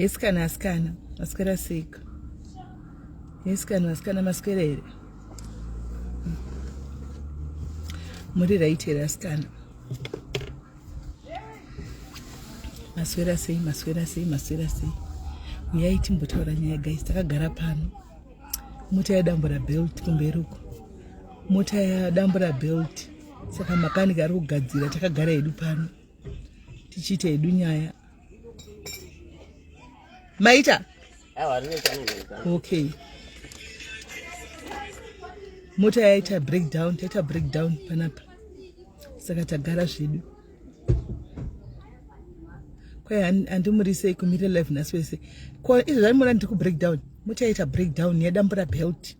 hesikana asikana maswera sika hesikana asikana maswera here muri right here asikana maswera sei maswera sei maswera sei uyai timbotaura nyaya guys takagara pano mota yadambura belt kumberi uko mota yadambura belt saka makaniki ari kugadzira takagara hedu pano tichiita hedu nyaya maita okay mota yaita breakdown taita breakdown panapa saka tagara zvedu kwaye handimurisei kumira live nhasi wese ko izvo zvaimona ndiri kubreakdown mota yaita breakdown yadambura belt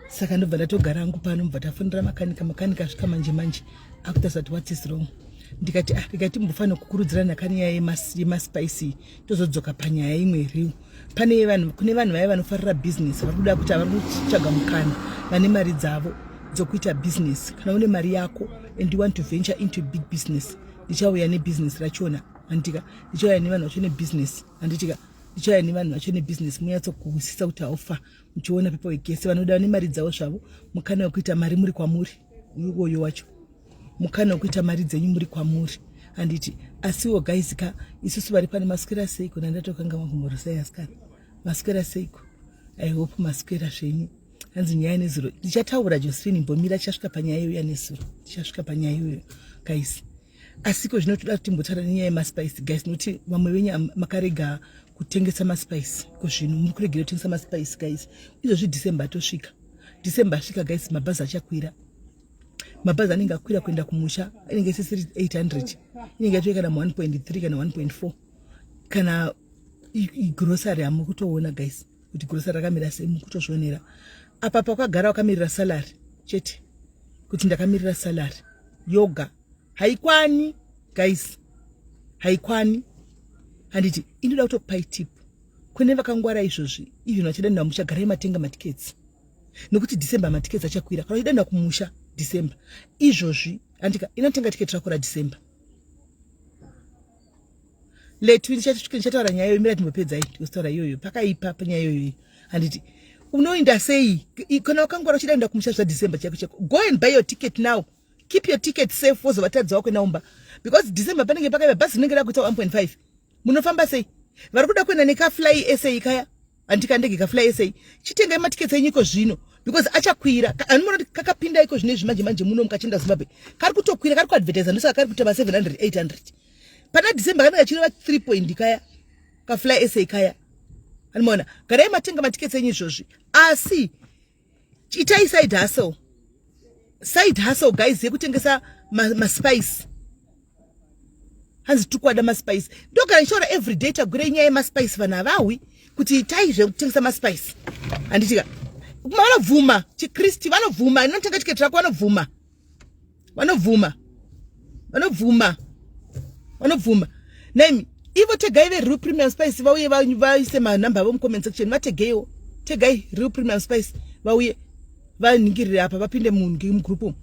saka ndobva ndatogara angu pano mubva tafonera makanika makanika asvika manje manje akutasa kuti what is wrong ndikati ah rega timbofanira kukurudzira nakani yaye yemaspicy tozodzoka panyaya imwe riu pane vanhu kune vanhu vaye vanofarira business vari kuda kuti vari kutsvaga mukana vane mari dzavo dzokuita business kana une mari yako and you want to venture into big business ndichauya nebusiness rachona andika ndichauya nevanhu vacho nebusiness anditika ndichauya nevanhu vacho nebusiness munyatsokuhwisisa kuti haufa uchiona pepa wegesi vanoda vane mari dzavo zvavo mukana wekuita mari muri kwamuri uyo wacho mukana wekuita mari dzenyu muri kwamuri handiti asiwo guys ka isusu vari pane maswera seiko nandatokanga makumhoro sei asikana maswera seiko i hope maswera zvenyu hanzi nyaya nezuro ndichataura josephine mbomira tichasvika panyaya iyoya nezuro tichasvika panyaya iyoyo guys asiko zvinotoda kuti timbotaura nenyaya yemaspice guys nokuti vamwe venyu makarega kutengesa maspice ko zvinhu muri kuregera kutengesa maspice guys izvozvi december atosvika december asvika guys mabhazi achakwira mabhazi anenge akwira kuenda kumusha inenge isisiri 800 inenge yatove kana 1.3 kana 1.4 kana igrosary hamuri kutoona guys kuti grosary rakamira sei muri kutozvionera apa pakwagara wakamirira salary chete kuti ndakamirira salary yoga haikwani guys haikwani handiti inoda kutokupai tip kune vakangwara izvozvi even vachida nda musha garai matenga matiketsi nekuti december matiketsi achakwira kana uchida nda kumusha december izvozvi handika inotenga tiketi rako radecember letu ndichataura nyaya yoyo mira timbopedza iyi ndikuzitaura iyoyo pakaipa panyaya yoyoyi handiti unoinda sei kana wakangwara uchida enda kumusha zva december chako chako go and buy your ticket now keep your ticket safe wozovatadzawo kuenda kumba because december panenge pakaiva bhazi rinenge rakuita 1.5 munofamba sei vari kuda kuenda nekafly esei kaya handika ndege kafly esei chitengai matiketsi enyu iko zvino because achakwira animoona kuti kakapinda iko zvine zvimanje manje muno mukachienda zimbabwe kari kutokwira kari kuadvertisa ndosaka kari kuita ma 700 800 pana december kanenge kachireva 3 point kaya kafly esei kaya animoona garai matenga matiketsi enyu izvozvi asi itai side hustle side hustle guys yekutengesa maspice ma hanzi tukwada maspice ndogara ndichitaura every day tagwira inyaya yemaspice vanhu havahwi kuti itai zvekutengesa maspice handitika vanobvuma chikristi vanobvuma inotanga tiketi rako vanobvuma vanobvuma vanobvuma vanobvuma nemi ivo tegai vereal premium spice vauye vaise manumber avo mucomment section vategeiwo tegai real premium spice vauye vanhingirire apa vapinde munhu mugroup umu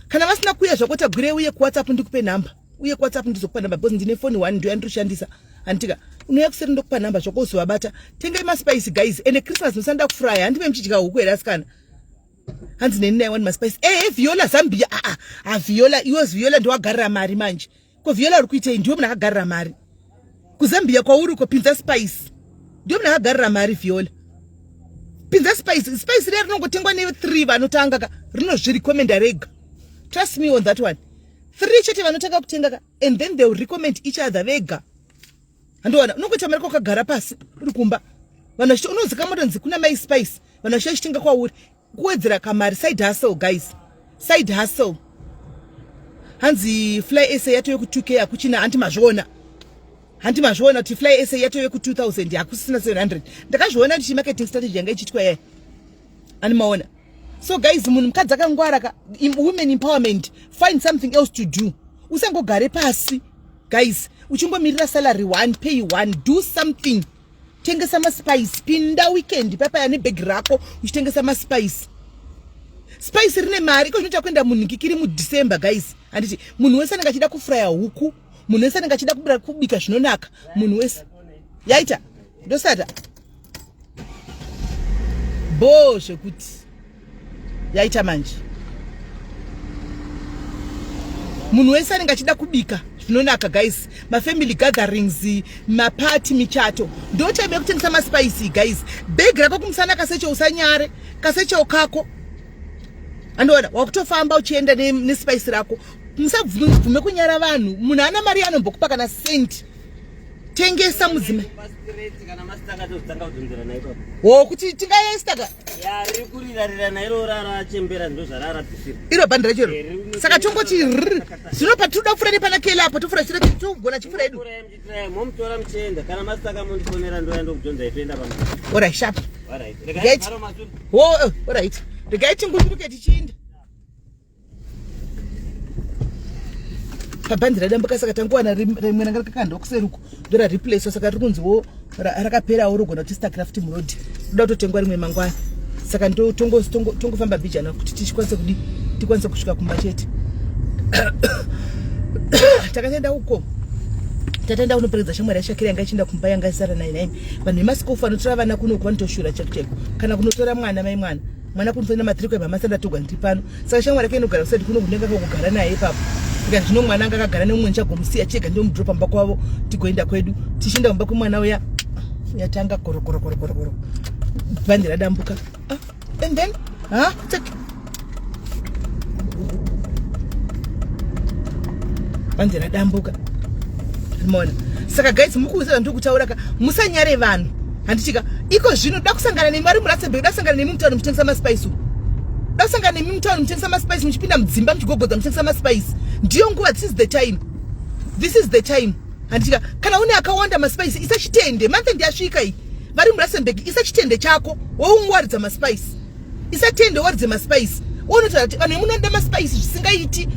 kana vasina kuuya zvako tagwire uye kuwhatsapp ndikupe number uye kuwhatsapp ndizokupa number because ndine foni one ndoya ndirishandisa handitika unoya kuseri ndokupa number zvako uzovabata tengai maspice guys ende christmas musanda kufuraya handive muchidya huku here asikana hanzi neni naiwani maspice ee eh, eh, viola zambia aa ah, ah, ah, viola iwe viola ndiwagarira mari manje ko viola uri kuitei ndiwe munhu akagarira mari kuzambia kwauri uko pinza spice ndiwe munhu akagarira mari viola pinza spice spice riya rinongotengwa nethree vanotanga ka rinozvirecommenda rega trust me on that one three chete vanotanga kutenga ka and then they will recommend each other vega handiwana unongochamira kwakagara pasi uri kumba vanhu vachiti unozika motonzi kuna mai spice vanhu vachita chitenga kwauri kuwedzera kamari side hustle guys side hustle hanzi fly sa yatove ku 2k hakuchina hanti mazviona hanti mazviona kuti fly sa yatove ku 2000 hakusina 700 ndakazviona ndichi marketing strategy yanga ichiitwa yaya ani maona so guys munhu mukadzi akangwara ka women empowerment find something else to do usangogare pasi guys uchingomirira salary one pay one do something tengesa maspice pinda weekend papaya nebhegi rako uchitengesa maspice spice rine mari iko zvinoita kuenda munhikikiri mudecember guys handiti munhu wese anenge achida kufraya huku munhu wese anenge achida kubika zvinonaka munhu wese yaita ndosata bhoo zvekuti yaita manje munhu wese anenge achida kubika zvinonaka guys mafamily gatherings mapati michato ndotime yekutengesa maspice guys beg rako kumusana kasecheo usanyare kasecheo kako andoona wakutofamba uchienda nespice rako musabvume kunyara vanhu munhu ana mari anombokupa kana senti tengesa mudzima wo kuti tingaestaka iro bhandi rachero saka tongoti r zvino patinoda kufura nepana kele apo tofura chiro togona chifura yedu orit shap orit regai tinguzuruke tichienda pabhanzi radambuka saka tanguwana rimwe ranga rakakandwa kuseri uko ndora replace saka riri kunziwo rakaperawo rogona kuti stakira futi muroad roda kutotengwa rimwe mangwana saka tongofamba bijana kuti tichikwanise kudi tikwanise kusvika kumba chete takatoenda uko tataenda kunoperedza shamwari yashakira yanga ichienda kumba yanga isara nainai vanhu vemasiku ufa anotora vana kunoku vanotoshura chekucheko kana kunotora mwana mai mwana mwana kunzwa nematiriko yebamasa ndatogwa ndiri pano saka shamwari yake inogara kusati kuno kunenge kakugara naye ipapo ika zvino mwana anga akagara neumwe ndichagomusiya chega ndomudropa mumba kwavo tigoenda kwedu tichienda kumba kwemwana uya yatanga korokorokorokoro bhandi radambuka ah, and then ha take bhandi radambuka mona saka guys mukuuza ndiri kutaura ka musanyare vanhu handitika iko zvino da kusangana nemi vari muratsembeu da kusangana nemi mutauri muchitengesa maspice da kusangana nemi mutauri muchitengesa maspice muchipinda mudzimba muchigogodza muchitengesa maspice ndiyo nguva this is the time this is the time handitika kana une akawanda maspice isa chitende manthe ndiyasvika iyi vari muratsembeu isa chitende chako wounwaridza maspice isatende wari dzemaspice unotaura kuti vanhu vemuno vanoda maspice zvisingaiti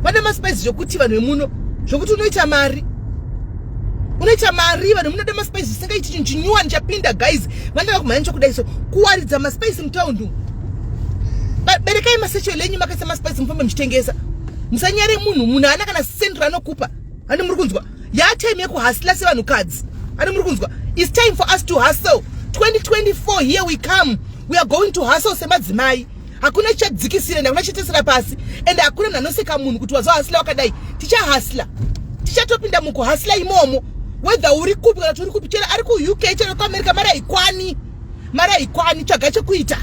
vanoda maspice zvekuti vanhu vemuno zvekuti unoita mari unoita mari vanhu munoda maspice zvisingaiti chinhu chinyuwani chapinda guys vanoda kumhanya chokudai so kuwaridza maspice mutaundi umu berekai masecho lenyu makaisa maspice mufambe muchitengesa musanyare munhu munhu haana kana send raanokupa handi muri kunzwa yaa time yekuhasila sevanhukadzi ani muri kunzwa its time for us to hustle 2024 here we come we are going to hustle semadzimai hakuna chichadzikisira ende hakuna chitesera pasi ende hakuna mnhu anoseka munhu kuti wazohasila wakadai tichahasila tichatopinda mukuhasila imomo whether uri kupi kana kuti uri kupi chero ari kuuk chero kuamerica mari haikwani mari haikwani tsvaga chekuita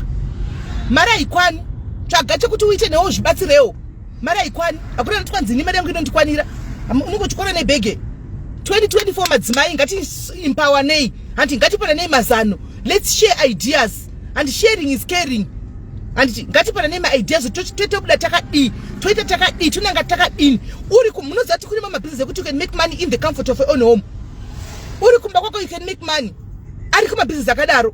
mari haikwani tsvaga chekuti uite newo zvibatsirewo mari haikwani hakuna anotwanzi ini mari yangu inondikwanira unenge uchikora nebhege 2024 madzimai ngatiimpower nei handi ngatipana nei mazano let's share ideas and sharing is caring handiti ngatipana nei maideas totobuda takadii toita takadii tonanga takadini uri munoziva ti kune mamabhizinesi ekuti you can make money in the comfort of your own home uri kumba kwako you can make money ari kumabhizinesi akadaro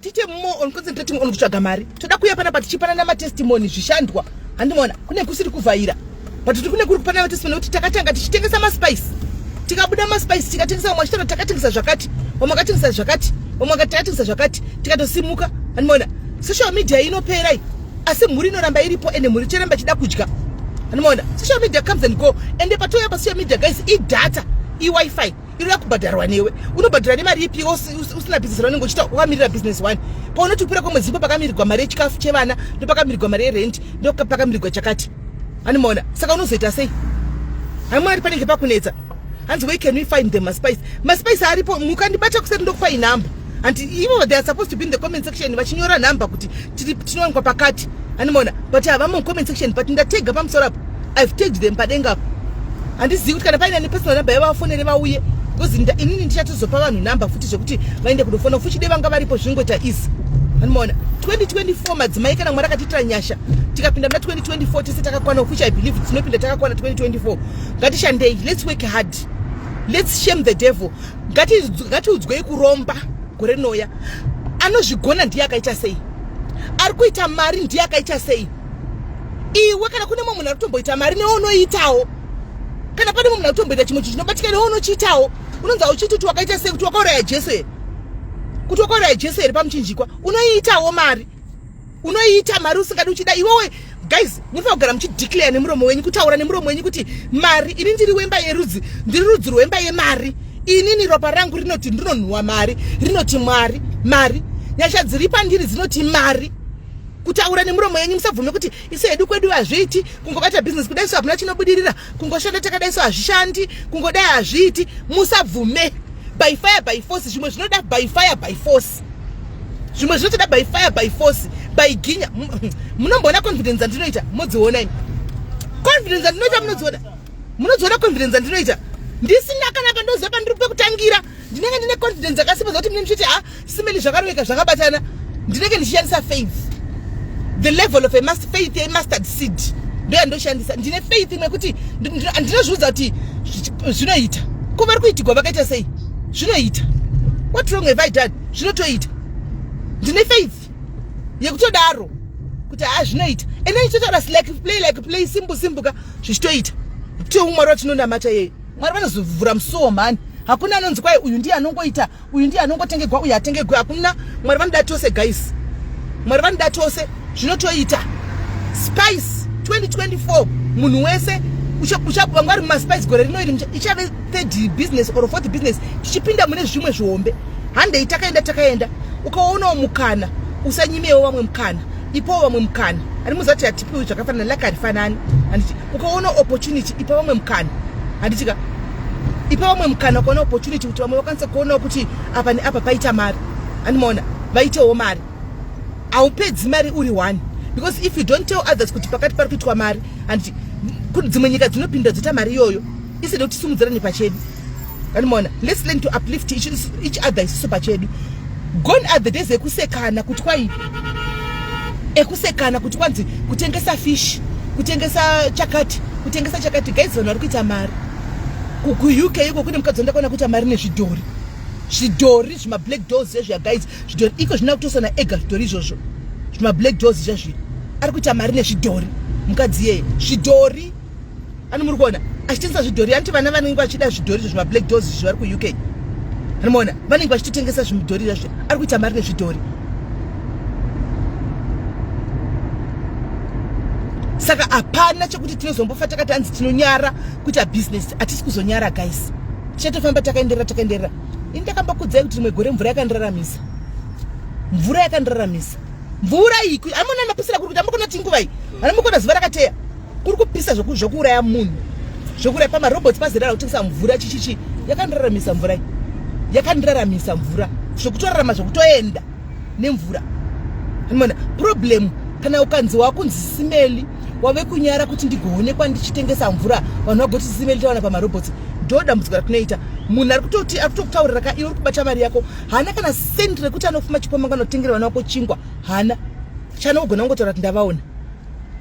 tiite more on concentrating on kutsvaga mari toda kuuya panapa tichipanana matestimony zvishandwa handimona kune kusiri kuvhaira but tiri kune kuri kupanana matestimony kuti takatanga tichitengesa maspice tikabuda maspice tikatengesa vamwe vachitaura takatengesa zvakati vamwe vakatengesa zvakati vamwe vakati takatengesa zvakati tikatosimuka handimona social media inopera iyi asi mhuri inoramba iripo ende mhuri icharamba ichida kudya handimona social media comes and go ende patouya pasocial media guys idata iwifi iri yakubhadharwa newe unobhadhara nemari ipi usina bhizinesi raunenge uchiita wakamirira bhizinesi one paunoti kupera kwemwedzi ipo pakamirirwa mari yechikafu chevana ndopakamirirwa mari yerendi ndopakamirirwa chakati animoona saka unozoita sei hai mwari panenge pakunetsa hanzi where can we find the maspice maspice aripo mukandibata kusati ndokupai nhamba and ivo they are supposed to be in the comment section vachinyora nhamba kuti tinowanikwa pakati animoona but havamo mucomment section but ndatega pamusoro apo ive tagged them padenga apo handizivi kuti kana paine ane personal number yavafonere vauye because inini ndichatozopa vanhu number futi zvekuti vaende kundofona futi dei vanga varipo zvingoita easy animoona 2024 madzimai kana mwari akatiitira nyasha tikapinda muna 2024 tese takakwana futi i believe tinopinda takakwana 2024 ngatishandei let's work hard let's shame the devil ngatiudzwei kuromba gore rinouya anozvigona ndiye akaita sei ari kuita mari ndiye akaita sei iwe kana kune mumwe munhu ari kutomboita mari newe unoitawo kana pane mumwe munhu ari kutomboita chimwe chinhu chinobatika newe unochiitawo unonzi auchiti kuti wakaita sei kuti wakauraya jesu here kuti wakauraya jesu here pamuchinjikwa unoiitawo mari unoiita mari usingadi uchida iwewe guys munofanira kugara muchideclare nemuromo wenyu kutaura nemuromo wenyu kuti mari ini ndiri wemba yerudzi ndiri rudzi rwemba yemari inini ropa rangu rinoti ndinonhuwa mari rinoti mwari mari nyasha dziri pandiri dzinoti mari kutaura nemuromo yenyu musabvume kuti isu hedu kwedu hazviiti kungobata bhizinesi kudai so hamuna chinobudirira kungoshanda takadai so hazvishandi kungodai hazviiti musabvume by fire by force zvimwe zvinoda by fire by force zvimwe zvinotoda by fire by force by ginya munomboona confidence andinoita modziona ini confidence andinoita munodziona munodziona confidence andinoita ndisina kana pandoziva pandiri pekutangira ndinenge ndine confidence yakasimba zvakuti mune muchiti ha ah, simeli zvakaroveka zvakabatana ndinenge ndichishandisa faith the level of a must faith a mustard seed ndoyandoshandisa ndine faith imwe kuti ndinozviudza kuti zvinoita ko vari kuitigwa vakaita sei zvinoita what wrong have i done zvinotoita ndine faith yekutodaro kuti haa zvinoita ende ichitotaura like play like play simbu simbu ka zvichitoita kutio mwari watinonamata yeye mwari vanozovhura musuwo mhani hakuna anonzi kwaye uyu ndiye anongoita uyu ndiye anongotengegwa uyu atengegwe hakuna mwari vanoda tose guys mwari vanoda tose zvinotoita spice 2024 munhu wese vangwari mumaspice gore rino iri ichave third business or fourth business tichipinda mune zvimwe zvihombe handei takaenda takaenda ukaonawo mukana usanyimewo vamwe mukana ipawo vamwe mukana ani muzati hatipiwi zvakafanana lake harifanani handiti ukaona opportunity ipa vamwe mukana handitika ipa vamwe mukana ukaona opportunity kuti vamwe vakwanise kuonawo kuti apa neapa paita mari andimaona vaitewo mari haupedzi mari uri one because if you don't tell others kuti pakati pari kuitwa mari handiti dzimwe nyika dzinopinda dzoita mari iyoyo isede kuti simudzirane pachedu vanimona let's learn to uplift each, each other isiso pachedu gone are the days ekusekana kuti kwai ekusekana kuti kwanzi kutengesa fish kutengesa chakati kutengesa chakati guys vanhu vari kuita mari kuuk iko kune mukadzi wandakaona kuita mari nezvidhori zvidhori zvimablack doors ezviya guys zvidhori iko zvina kutosana ega zvidhori izvozvo zvimablack doors izvazviri ari kuita mari nezvidhori mukadzi yeye zvidhori Ani muri kuona achitengesa zvidhori anti vana vanenge vachida zvidhori izvo zvimablack doors izvi vari kuuk anomaona vanenge vachitotengesa zvimudhori izvozvo ari kuita mari nezvidhori saka hapana chekuti tinozombofa takati hanzi tinonyara kuita bhizinesi hatisi kuzonyara guys tichatofamba takaenderera takaenderera ini ndakambakudzai kuti rimwe gore mvura yakandiraramisa mvura yakandiraramisa mvura iyi amona napesera kuri kuti ambokonati nguva iyi anamukona zuva rakateya kuri kupisa zvekuuraya munhu zvekuuraya pamarobot pazerara kutengesa mvura chichichi yakandiraramisa mvura iyi yakandiraramisa mvura zvekutorarama zvekutoenda nemvura mona problem kana ukanzi wakunzi simeli wave kunyara kuti ndigoonekwa ndichitengesa mvura vanhu vagoti simeli tawana pamarobot ndo dambudziko ratinoita munhu ari kutoti ari kutokutaurira ka iwe uri kubata mari yako haana kana sendi rekuti anofuma chipomanga anotengera vana vako chingwa haana chanogona kungotaura kuti ndavaona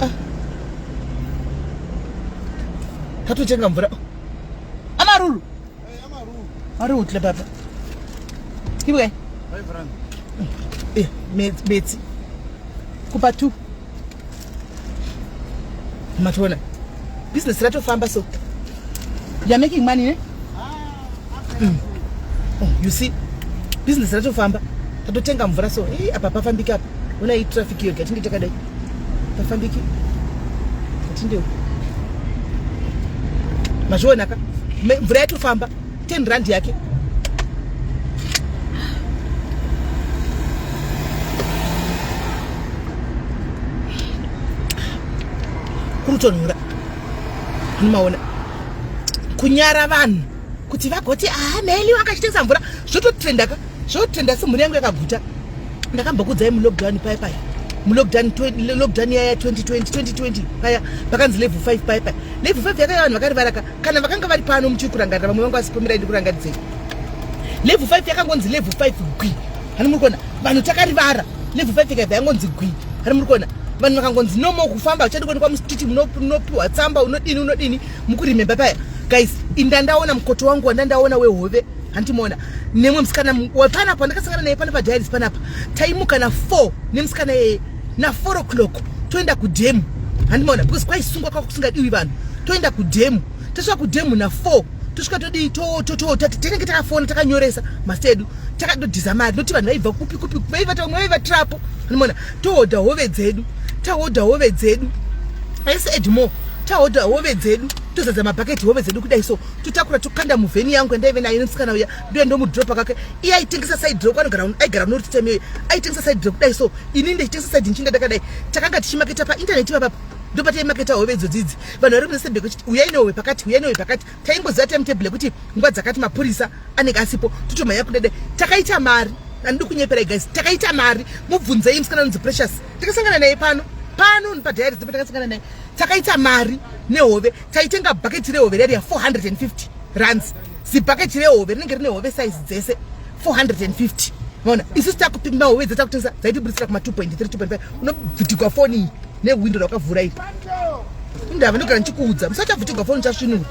Ah. Tatotenga mvura. Amaruru. Eh, amaruru. Ari utle baba. Iwe. Vai vrani. Eh, metsi. Kupa tu. Matoona. Business ratofamba so. You're making money, eh? mm. oh, you see business ratofamba tatotenga mvura so hey, eh, apa pafambiki apa ona i traffic yoga tinde takadai pafambiki atindeu mazvionaka mvura yatofamba 10 rand yake kurutonhora anomaona kunyara vanhu kuti vagoti haa ah, meli wanga achitengesa mvura zvototrendaka zvototrenda asi mhuri yangu yakaguta ndakambokudzai mulockdown paya paya mulockdown yaya 2020 paya pakanzi level 5 paya paya level 5 yakaya vanhu vakarivaraka kana vakanga vari pano muchiri kurangarira vamwe vangu vasipomirai ndikurangaridzeyi level 5 yakangonzi level 5 gwi hani muri kuona vanhu takarivara level five ikabva yangonzi gwi hani muri kuona vanhu vakangonzi nomo kufamba uchadi kuonekwa mustiti munopiwa tsamba unodini unodini mukurimemba paya guys indandaona mukoto wangu wandandaona wehove handimoona nemwe musikana panapa ndakasangana naye pana padiaris panapa taimuka na four nemusikana yeye na four o'clock toenda kudhemu handimoona because kwaisungwa kwakusingadiwi vanhu toenda kudhemu tasvika kudhemu na 4 tosvika todii totota tinenge takafona takanyoresa masta edu takatodhiza mari noti vanhu vaibva kupi kupi vaiva tamwe vaiva trapo anomona tohodha hove dzedu tahodha hove dzedu ese edmore tahodha hove dzedu tozadza mabhaketi hove dzedu kudai so totakura tokanda muvheni yangu yandaive nayo nemusikana uya ndoya ndomudropa kake iye aitengesa sidrok aigara kunorititemeye aitengesa sidrok kudai so ini ndechitengesa side nchinda ndakadai takanga tichimaketa paintaneti ipapapa ndopataimaketa hove idzodzidzi vanhu vari kunese bheke kuti uyai newe pakati uyai newe pakati taingoziva timetable yekuti nguva dzakati mapurisa anenge asipo totomhanya kudede takaita mari andidi kunyeperai guys takaita mari mubvunzei musikana nonzi precious takasangana naye pano pano padhayari dzipo takasangana naye takaita mari nehove taitenga bhaketi rehove rariya 450 runs zibhaketi rehove rinenge rine hove size dzese 450 maona isu takupima hove dzetakutengesa dzaitibudisira kuma 2.3 2.5 unobvutigwa foni iyi nehwindo rakavhura iri indava ndogara ndichikuudza musachavhutigwa foni chasvinura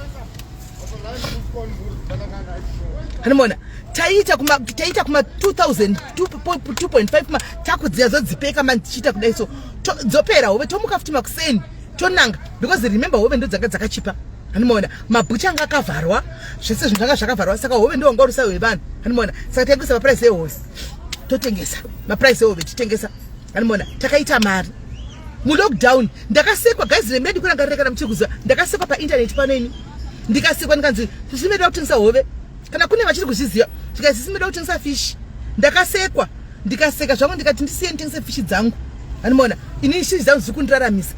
anomona taiita kuma taiita kuma 2002.5 takudziya zodzipeka mani tichiita kudai so dzopera hove tomuka futi makuseni tonanga because remember hove ndo dzanga dzakachipa hanimoona mabhucha anga akavharwa zvese zvinhu zvanga zvakavharwa saka hove ndo wanga urusa wevanhu hanimoona saka taikuisa maprice ehosi totengesa maprice ehove titengesa Anmona takaita mari mulockdown ndakasekwa guys remedi kurangarira kana muchikuziva ndakasekwa painternet pano ini ndikasekwa ndikanzi sisi meda kutengesa hove kana kune vachiri kuzviziva zvikanzi sisi meda kutengesa fish ndakasekwa ndikaseka zvangu ndikati ndisiye nditengese fishi dzangu anmona ini fishi dzangu dziri kundiraramisa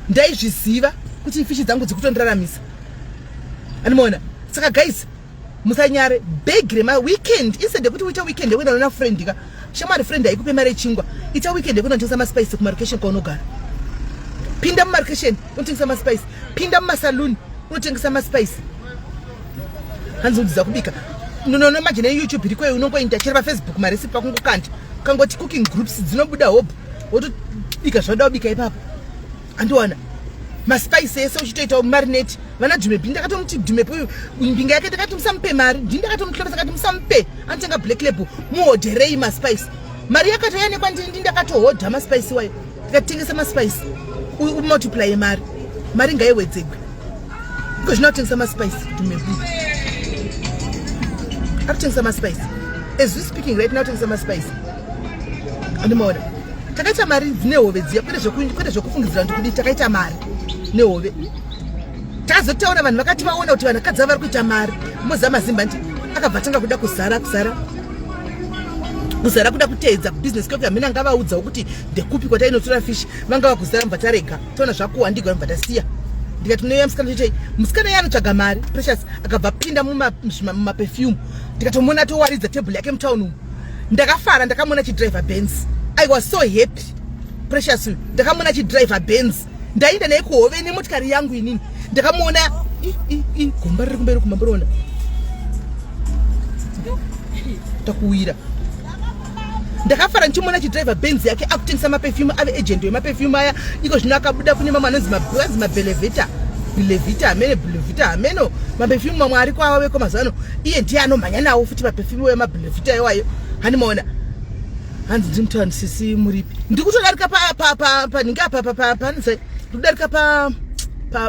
ndaizviziva kuti fishi dzangu dziri kutondiraramisa anmona saka guys musanyare bag rema weekend instead yekuti uita weekend yekuenda unona friend ka shamwari friend haikupe mari yechingwa ita weekend yekuenda unotengesa maspice kumarcation kwaunogara pinda mumarcation unotengesa maspice pinda mumasaloon unotengesa maspice hanzi udzidza kubika nonono manje neyoutube iri kweyo unongoinda chero pafacebook marecipe pakungokandi kangoti cooking groups dzinobuda hope wotobika zvauda kubika ipapo andiwana maspice ese uchitoitawo marinate vana dhumepi ndakatomuti dhumepi uyu mbinga yake ndakati musamupe mari ndii ndakatomuhlobesa kati musamupe anotenga black label muhodherei maspice mari yakatouya nekwandiri ndi ndakatohodha maspice wayo ndikatengesa maspice umultiplye mari mari ngaiwedzegwe iko zvino atengesa maspice dhumepi atotengesa maspice as we speaking right now atengesa maspice ndimoona takaita mari nehove dziya kwete zvekufungidzira kuti kudii takaita mari nehove tazotaura vanhu vakati vaona kuti vanhukadzi vari kuita mari moziva mazimba nti akabva tanga kuda kuzara kuzara kuzara kuda kuteedza kubusiness kwekuti hamina ngavaudzawo kuti ndekupi kwatainotora fish vanga vakuzara mubva tarega taona zvakuwa ndigwa mubva tasiya ndikati munoiya musikana toitei musikana iye anotsvaga mari precious akabva apinda mumapefyume ndikatomuona atowaridza tebhule yake mutown umu ndakafara ndakamona chidriver benz i was so happy precious ndakamona chidriver benz ndainda naye kuhove nemotikari yangu inini ndakamuona gomba riri kumberi kumamborona takuwira ndakafara ndichimona chidriver benz yake akutengesa mapefyume ave agent wemapefyume aya iko zvino akabuda kune mamwe anonzi mabazi mabeleveta belevita amene belevita ameno mapefyume mamwe ariko awaweko mazuva ano iye ndiye anomhanya nawo futi mapefyume wema Fita iwayo hani maona hanzi ndimutani sisi muripi ndikutodarika panhinge apa panzai ndikudarika pa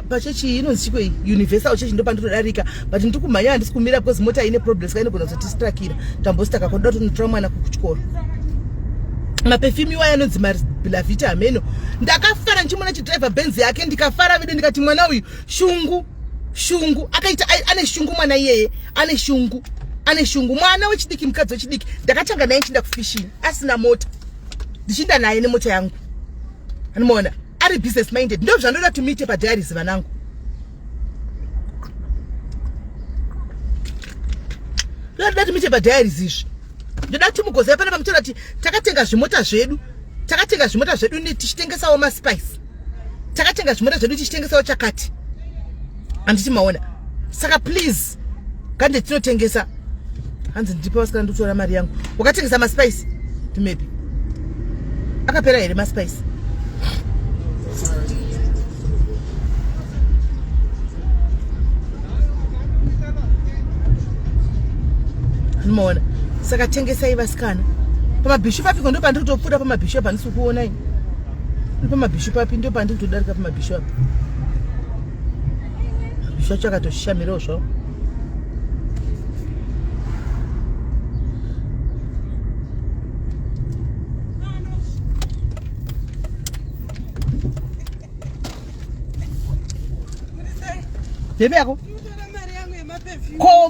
pachechi inonzi chiko iyi universal chechi ndo pandinodarika but ndiri kumhanya handisi kumira because mota ine problem ska inogona kuzotistrakira tambositaka koda kuti ndinotora mwana kuchikoro mapefumi iwayo anonzi mabilavita hameno ndakafara ndichimona chidriver benzi yake ndikafara vedu ndikati mwana uyu shungu shungu akaita ane shungu mwana iyeye ane shungu ane shungu mwana wechidiki mukadzi wechidiki ndakatanga naye chinda kufishing asina mota ndichinda naye nemota yangu anomuona ari business minded ndo zvandoda tumite padiaries vanangu ndoda tumite padiaries izvi ndoda tumugoza panapa mutora ti takatenga zvimota zvedu takatenga zvimota zvedu tichitengesawo maspice takatenga zvimota zvedu tichitengesawo chakati handiti maona saka please kande tinotengesa hanzi ndipa vasikana ndikutora mari yangu wakatengesa maspice ndimepi akapera here maspice anomaona saka tengesai vasikana pamabhishopu apiko ndo pandiri kutopfuura pamabhishopu handisi kuonai Pamabhishu papi ndipo pandiri kutodarika pamabhishu apa. Mabhishu acho akatoshamirawo zvawo. Bebe yako? Ko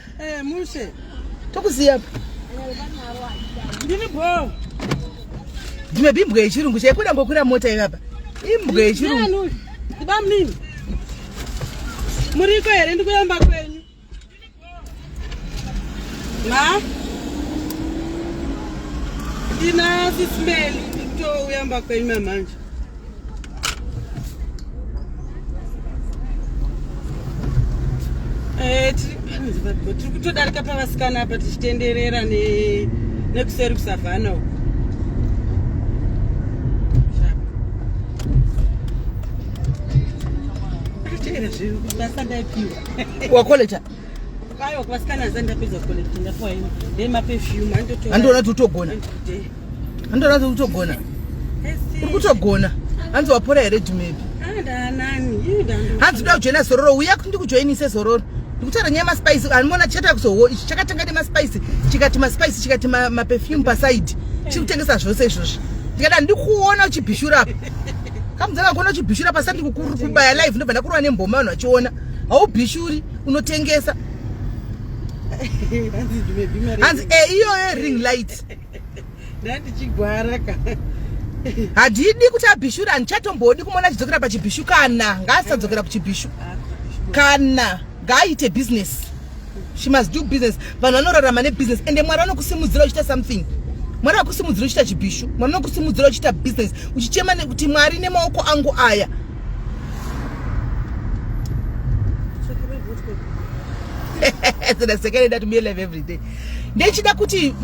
Eh, mushe. Tokuziya. Ndiri bho. Ndime bimbwe yechirungu chekuda ngokwira mota ivapa. Imbwe yechirungu. Ndiba mimi. Muriko here ndikuyamba kwenyu. Ma? Ndina sisimeli ndikutouya mba kwenyu mamanje. Eh, tiri kutodarika pavasikana apa tichitenderera nekuseri kusavhana uku wakoleta Kayo kwasikana zanda pizza collect ndapuwa imi. Dei ma perfume andotora. Andora tutogona. Andora tutogona. Kutogona. Anzi wapora here Jumebi? Anda nani? Yuda ndo. Hanzi ndoda kujoina zororo. Uya kuti ndikujoinise zororo. Ndikutaura nyaya maspice. Animona chata kusoho. Ichi chakatanga ne maspice. Chikati maspice chikati ma, ma perfume pa side. Eh. Chikutengesa zvose izvozvo. Ndikada ndikuona uchibhishura apa. Kamuzana kuona uchibhishura pa side kukuru kubaya live ndobva ndakurwa nemboma vanhu vachiona. haubhishuri unotengesa hanzi e eh, iyoyo ring light ndandichigwaraka hadidi kuti abhishura handichatombodi kumona achidzokera pachibhishu kana ngaasadzokera kuchibhishu kana ngaaite bhizinesi she must do business vanhu vanorarama nebusiness ende mwari vanokusimudzira uchiita something mwari vakusimudzira uchiita chibhishu mwari vanokusimudzira uchiita business uchichema nekuti mwari nemaoko angu aya ndechida kuti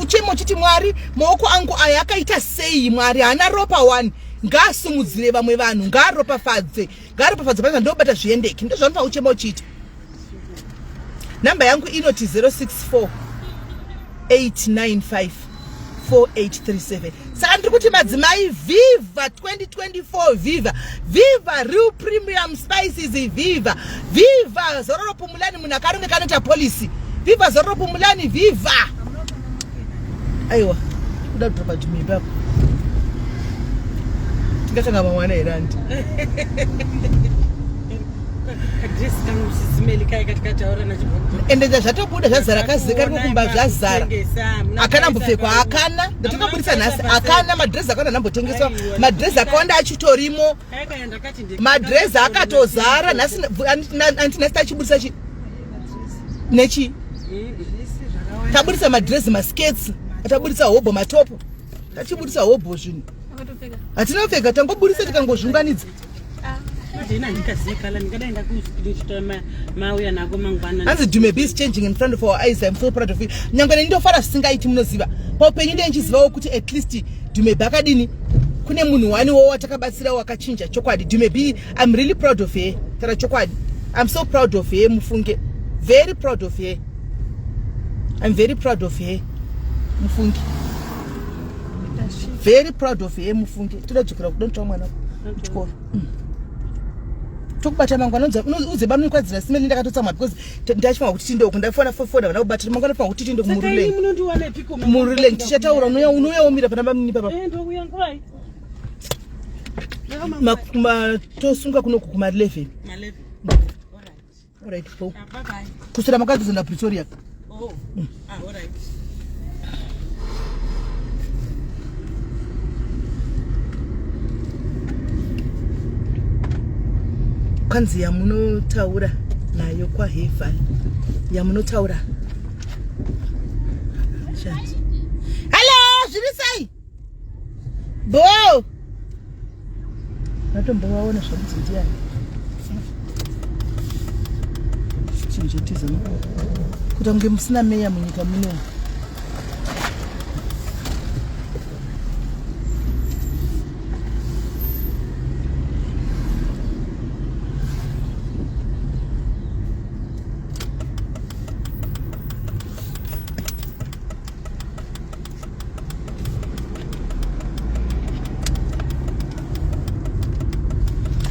ucheme uchiti mwari maoko angu aya akaita sei mwari haana ropa wani ngaasimudzire vamwe vanhu ngaaropafadze ngaaropafadze paizva ndobata zviendeki ndozvanofa uchema uchiita number yangu inoti 064 895 4837 saka ndiri kuti madzimai viva 2024 viva viva real premium spices viva viva zororo pumulani munhu akarongeka anoita policy viva zororo pumulani viva aiwa kuda kutora pachimimba apo tingatanga vamwana here andi ende zvatobuda zvazara kazi kari kukumba zvazara akana mbopfekwa akana ndatakaburitsa nhasi akana madress akawanda anambotengeswa madress akawanda achitorimo madress akatozara nhasi antinhasi tachibudisa chi nechi tabudisa madress maskets tabudisa hobho matopo tachibudisa hobho zvinhu hatina kupfeka tangobudisa tikangozvunganidza hanzi dumebe is changing in front of our eyes im so proud of you nyange neni ndofara zvisingaiti munoziva paupenyu ndee ndichizivawo kuti at least Dume bakadini kune munhu wani wo watakabatsira wakachinja chokwadi Dume be I'm really proud of her tara chokwadi I'm so proud of her mufunge very proud of her I'm very proud of her mufunge very proud of her mufunge toda kudzokera kudontoa mwana kuchikoro mm. tokubata mangwana uze bamikwa dzira simeni ndakatotsamwa because ndachifunga kuti tinde uku ndafona fona vana kubatira mangwana funga kuti tinde kumuruleng tichataura unouya unouya womira pana bamini papa tosunga kunoku kuma 11 kusvira makadzozenda pretoria oh. mm. Ah, all right. kwanzi yamunotaura nayo kwahevan yamunotaura hello zviri sei Bo! Vatombovaona zvakudzi ndiani. Chinhu chatiza mukuru. Kuita kunge musina meya munyika munomu.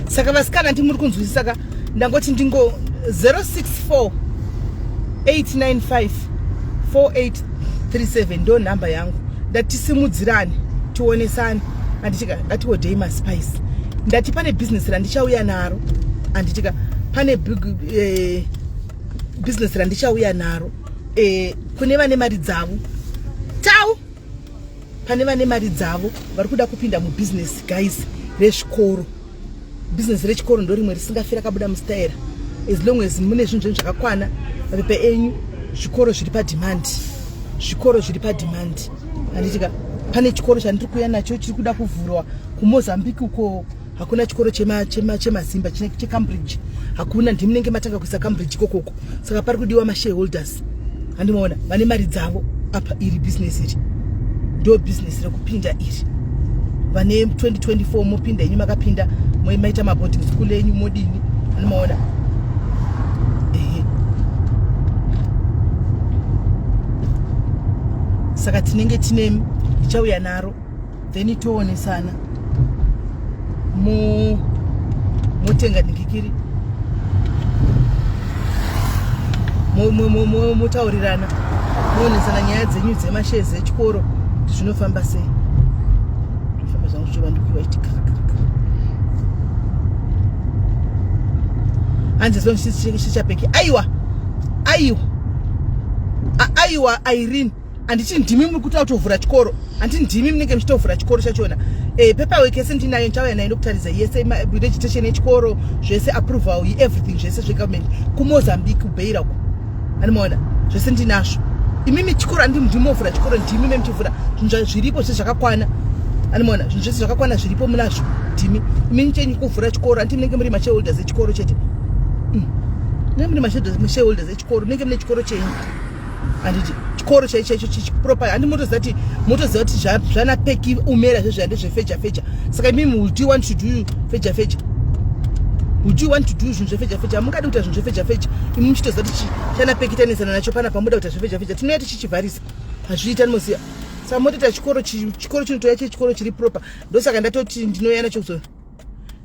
saka vasikana ndi muri kunzwisisa ka ndangoti ndingo 064 895 4837 ndo nhamba yangu ndatisimudzirane tionesane anditika ngatiodei maspice ndati pane bhizinesi randichauya naro anditika pane eh, bhizinesi randichauya naro eh, kune vane mari dzavo tau pane vane mari dzavo vari kuda kupinda mubusiness guys rezvikoro business rechikoro ndo rimwe risingafira kabuda mustaera as long as mune zvinhu zvenyu zvakakwana mapepa enyu zvikoro zviri pademand zvikoro zviri pademand handitika pane chikoro chandiri kuuya nacho chiri kuda kuvhurwa kumozambique uko hakuna chikoro chema chema chemasimba chine checambridge hakuna ndimi nenge matanga kuisa cambridge kokoko saka pari kudiwa mashareholders handimaona vane mari dzavo apa iri business iri ndo business rekupinda iri vane 2024 mopinda inyu makapinda maita maboarding school enyu modini handimaona ehe saka tinenge tine ndichauya naro then toonesana mu motenga ndikikiri motaurirana moonesana nyaya dzenyu dzemashezi echikoro kuti zvinofamba sei zvofamba zvangu zvichovandukiwa itikaka hanzi zoni chichapeki aiwa aiwa aiwa irene handiti ndimi muri kuti autovhura chikoro handiti ndimi munenge muchitovhura chikoro chachona eh, paperwork yese ndinayo ndichauya nayo ndokutaridza yese registration yechikoro zvese approval yeeverything zvese zvegovernment kumozambique kubeira uko andimaona zvese ndinazvo imimi chikoro handiti ndimovhura chikoro ndimi memuchivhura zvinhu zviripo zvese zvakakwana andimaona zvinhu zvese zvakakwana zviripo munazvo ndimi imimi chenyu kuvhura chikoro handiti munenge muri mashareholders echikoro chete mm. munenge muri mashareholders echikoro munenge mune chikoro chenyu handiti chikoro chaichaicho chichipropa handi motoziva kuti motoziva kuti zvana peki umera zvezvo hande zvefeja feja saka imimi will do want to do feja feja will do want to do zvinhu zvefeja feja hamungadi kuita zvinhu zvefeja feja imi muchitoziva kuti chana peki tainezana nacho pana pamuda kuita zvefeja feja tinouya tichichivharisa hazviita ndimoziva saka motoita chikoro chikoro chinotouya chechikoro chiri proper ndosaka ndatoti ndinouya nacho kuzo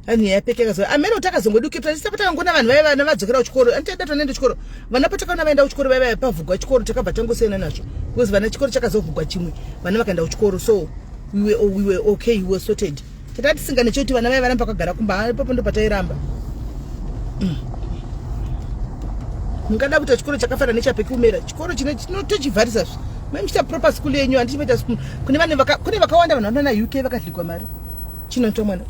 vanhu yapeke kazo amene kuti akazongodukira tachisa patakangona vanhu vaiva vana vadzokera kuchikoro anitaida tanoenda kuchikoro vana patakaona vaenda kuchikoro vaiva vapavhugwa chikoro takabva tangosiyana nazvo because vana chikoro chakazovhugwa chimwe vana vakaenda kuchikoro so we were, we were okay we were sorted tata tisingane chekuti vana vaiva ramba vakagara kumba ah, ipapo ndo patairamba mm. mungada kuita chikoro chakafanana nechapekumera chikoro chine chinotochivharisa zve maimuchita proper school yenyu handichimaita kune vane kune vakawanda vanhu vanoona uk vakadhligwa mari Chinoto mwana.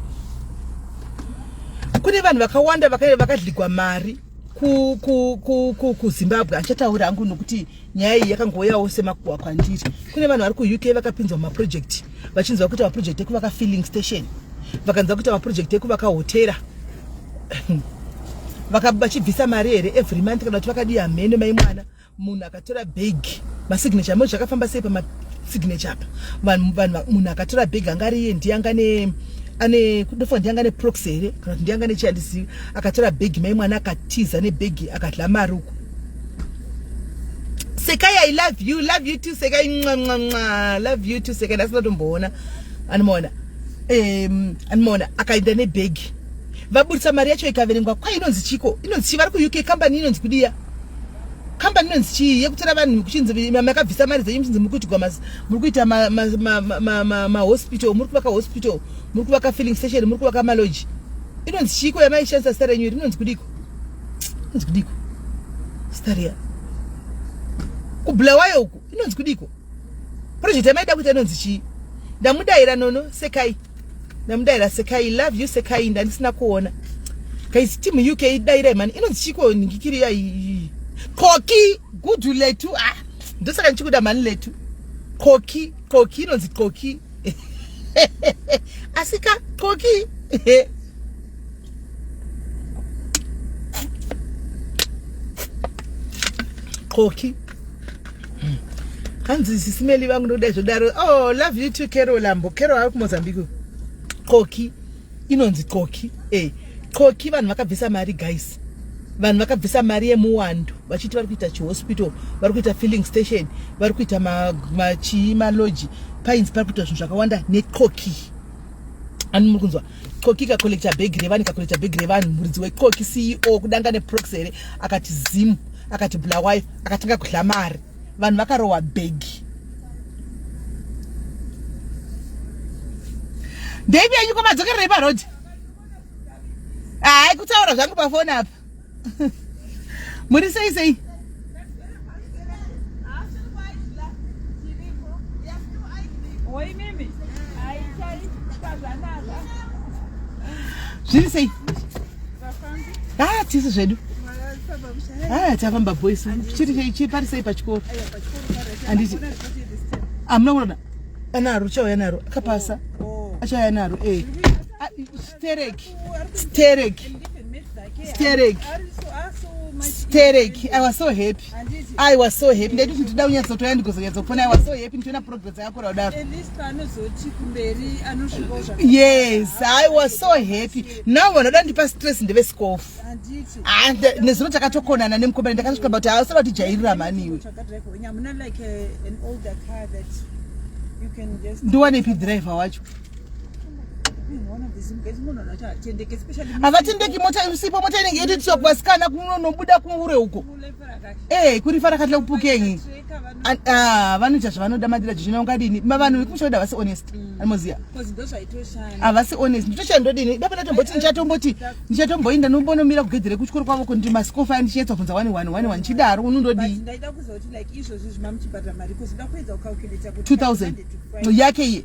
Kune vanhu vakawanda vakadligwa mari ku ku ku ku ku Zimbabwe achataura angu nokuti nyaya iyi yakangoyawo semakuwa kwandiri. Kune vanhu vari ku UK vakapinzwa ma project vachinzwa kuti ma project ekuvaka filling station. Vakanzwa kuti ma project ekuvaka hotera. vakabva chibvisa mari here every month kana kuti vakadiya mhene mai mwana munhu akatora bag masignature amwe zvakafamba sei pamasignature apa vanhu vanhu munhu akatora bag anga ariye ndiye anga ne ane kudofa ndiye anga ne prox here kana kuti ndiye anga nechii handizivi akatora bag mai mwana akatiza nebag akadla mari uko sekai i love you love you too sekai nxanxanxa love you too sekai ndasinotomboona animoona um animoona akaenda nebag vaburitsa mari yacho ikaverengwa kwai inonzi chiko inonzi chii vari kuuk company inonzi kudiya kambani inonzi chii yekutora vanhu kuchinzi makabvisa mari dzenyu muchinzi muri kuitigwa muri kuita mahospital muri kuvaka hospital muri kuvaka filling station muri kuvaka maloji inonzi chiiko yamaishandisa zita renyu iri inonzi kudiko inonzi kudiko zita riya kubulawayo uku inonzi kudiko Project yamaida kuita inonzi chii? Ndamudaira nono sekai. Ndamudaira sekai. Love you sekai ndandisina kuona. Guys team UK idaira man inonzi chiko ningikiri ya Koki good letu ah ndosaka ndichikuda mani letu. Koki koki inonzi koki. Asika koki. Koki. hanzi sisimeli vangu ndoda izvodaro oh love you to kero lambo kero ari kumozambique coki inonzi coki e eh, coki vanhu vakabvisa mari guys vanhu vakabvisa mari yemuwando vachiti vari kuita chihospital vari kuita filling station vari kuita machii maloji painzi pari kuita zvinhu zvakawanda necoki ani muri kunzwa coki ikacollecta bhegi revanhu ikacollecta bhegi revanhu muridzi wecoki ceo kudanga neprox here akati zim akati blawai akatanga kudla mari vanhu vakarohwa bhegi ndeipi yenyu komadzokererei parodi hayi kutaura zvangu pafoni apa muri sei sei zviri sei ah tisi zvedu ah tafamba boys chiri chiparisei pachikoro anditi amuna kunoda anaro chauya naro akapasa achauya naro e Sterek, Sterek, Sterek, Sterek. I was so happy. I was so happy. Ndaiti ndida unyatsotoya ndigozonyatsofona. I was so happy ndichiona progress yako raudaro. Yes, I was so happy. Now vanoda ndipa stress ndeve sikofu. And nezuro takatokonana nemukomana ndakasvika but I was about to jairira mani iwe. Ndiwanepi driver wacho? havatendeki mota isipo mota inenge yeti tisa kuvasikana kunonobuda kuure uko e kuri fara katila kupukengi ah, vanoita zvavanoda madira jizvina ungadini mavanhu vekumusha kuda havasi honest mm. anoziva havasi honest nditoshaya ndodini dapana tomboti ndichatomboti ndichatomboinda nombonomira kugedhi rekuchikoro kwavo kundi masikofa andichiedza kunza wani wani wani wani chidaro unundodii 2000 yake iye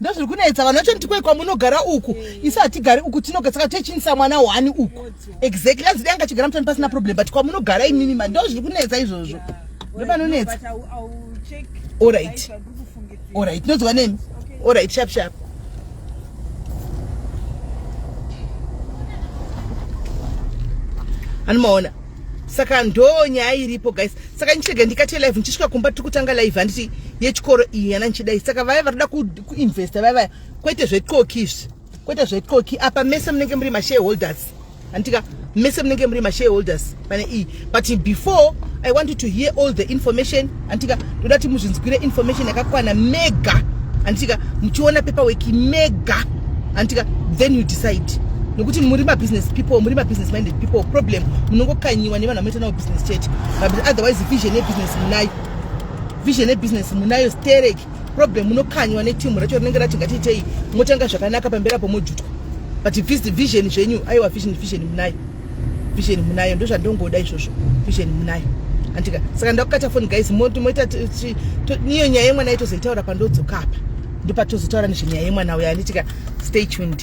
ndozviri kunetsa vanhu vacho ndikoi kwamunogara uku isu hatigari uku tinogara saka techinisa mwana wani uku exactly anzi dai angachigara mutani pasina problem but kwamunogara imimi ma ndo zviri kunetsa izvozvo ndo panonetsa orit orit ndozwa nemi orit shap shap anomaona saka ndoo nyaya iripo guys saka ndichirega ndikate live ndichisvika kumba tiri kutanga live handiti yechikoro iyi yana ndichidai saka vaya varikuda kuinvesta vaya vaya kwete zvecoki izvi kwete zvecoki apa mese munenge muri mashareholders handitika mese munenge muri mashareholders pane iyi but before i want you to hear all the information anditika ndoda kuti muzvinzwire information yakakwana mega anditika muchiona paper work mega anditika then you decide nokuti muri mabusiness people muri mabusiness minded people problem munongokanyiwa nevanhu vanoita navo business chete otherwise vision yebusiness munayo vision yebusiness munayo sterek problem munokanyiwa netimu racho rinenge rati ngatiitei motanga zvakanaka pamberi apo mojutwa but vision zvenyu aiwa vision vision munayo vision munayo ndozvandongoda izvozvo vision munayo andika saka ndakukata foni guys moita niyo nyaya yemwana itozoitaura pandodzoka apa ndopatozotaura nezvenyaya yemwana uyo anditika stay tuned